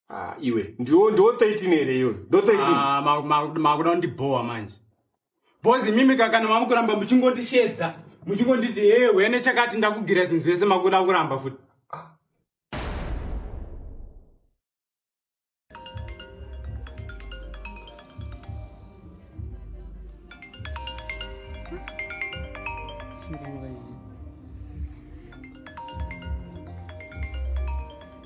ah, iwe ndiwo ndiwo 13 here iwe ndo 13 makuda kundibhowa manje bhozi mimi kakana mamukuramba muchingondishedza muchingonditi hee wene chakati ndakugira zvinhu zvese makuda kuramba futi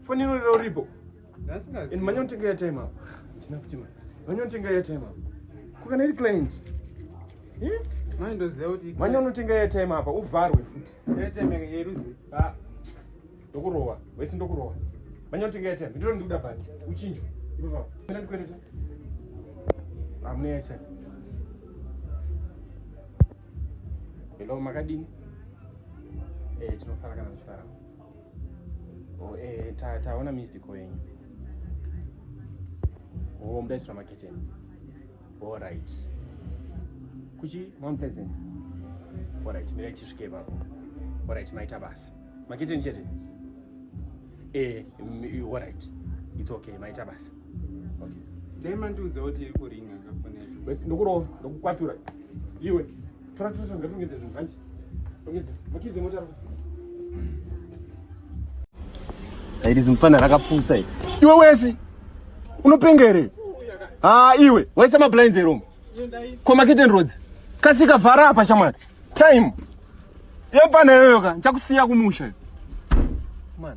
Foni inorira uripo. And manya unotenga ya time apo. Tina futi manya. Manya unotenga ya time apo. Kukana iri client. Eh? Manya ndoziva kuti manya unotenga ya time apa uvharwe futi. Ya time yerudzi. Ah. Ndokurowa. Wesi ndokurowa. Manya unotenga ya time. Ndiro ndikuda bhandi. Uchinjo. Ipo papo. Mena ndikwereta. Amune ya time. Hello makadini? Eh, tinofara kana tichifara. Oh, eh, ta taona missed call yenyu. Oh, mdai sura maketeni. All right. Kuchi Mount Pleasant. All right, mira chisvike ipapo. All right, maita basa. Maketeni chete. Eh, all right. It's okay, maita basa. Okay. Dai mandiudza kuti iri kuringa kafonero. Ndokurowa, ndokukwatura. Iwe. Tora tora ngatongedze zvinhu hanti. Ongedza. Makize mota. Iri zimfana rakapusa iri. Iwe wesi unopenga here? Ah iwe waisa mablinds ero. Ko makete roads. Kasika vhara apa shamwari. Time. Yemfana yoyoka, nchakusiya kumusha. Man.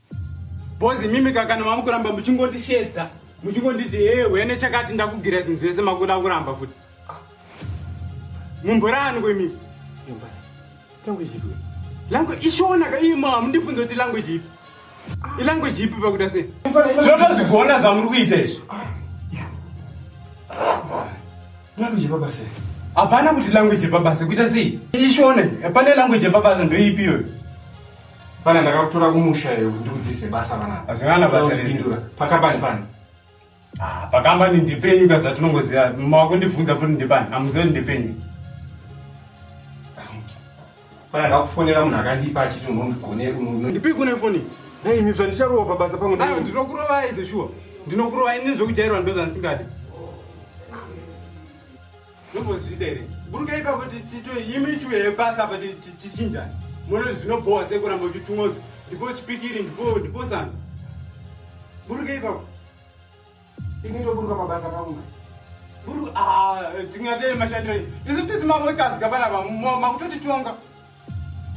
Bozi mimi kakana mamukuramba muchingondishedza muchingonditi hee wene chakati ndakugira zvinhu zvese makuda kuramba futi mumborani kwemimi language ipi language ishona ka iye mama mundifunza kuti language ipi ilanguage ipi pakuda sei zvinotozvigona zvamuri kuita izvi language baba sei hapana kuti language baba sei kuita sei ishone pane language baba ndoipi iyoyo Pana ndakakutora kumusha iyo kuti ndikudzise basa vana. Hazvingana basa rezvindura. Pakambani pani? Ah, pakambani ndipenyu ka zvatinongoziva. Mawakundibvunza futi ndipani. Amuzivi ndipenyu. Pana ndakufonera munhu akandipa achiti unondigone uno. Ndipi kune foni? Nei ini zvandicharowa pabasa pangu ndai. Ah, ndinokurovai izvo shuwa. Ndinokurovai ini zvokujairwa ndozvandisingadi. Ndombozviita here? Burukai ipapo titwe imi ichwe yebasa apa tichinjani. Mono zvinobhowa sekuramba uchitumwa kuti ndipo chipikiri ndipo ndipo sanga. Burukai ipapo. Ini ndoburuka mabasa pangu. Buru ah tingadei mashandiro. Isu tisi mamotasi kapana makutotitonga.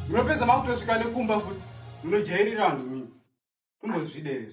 Munopedza makutosvika nekumba futi. Munojairira vanhu mimi. Kumbozvida here?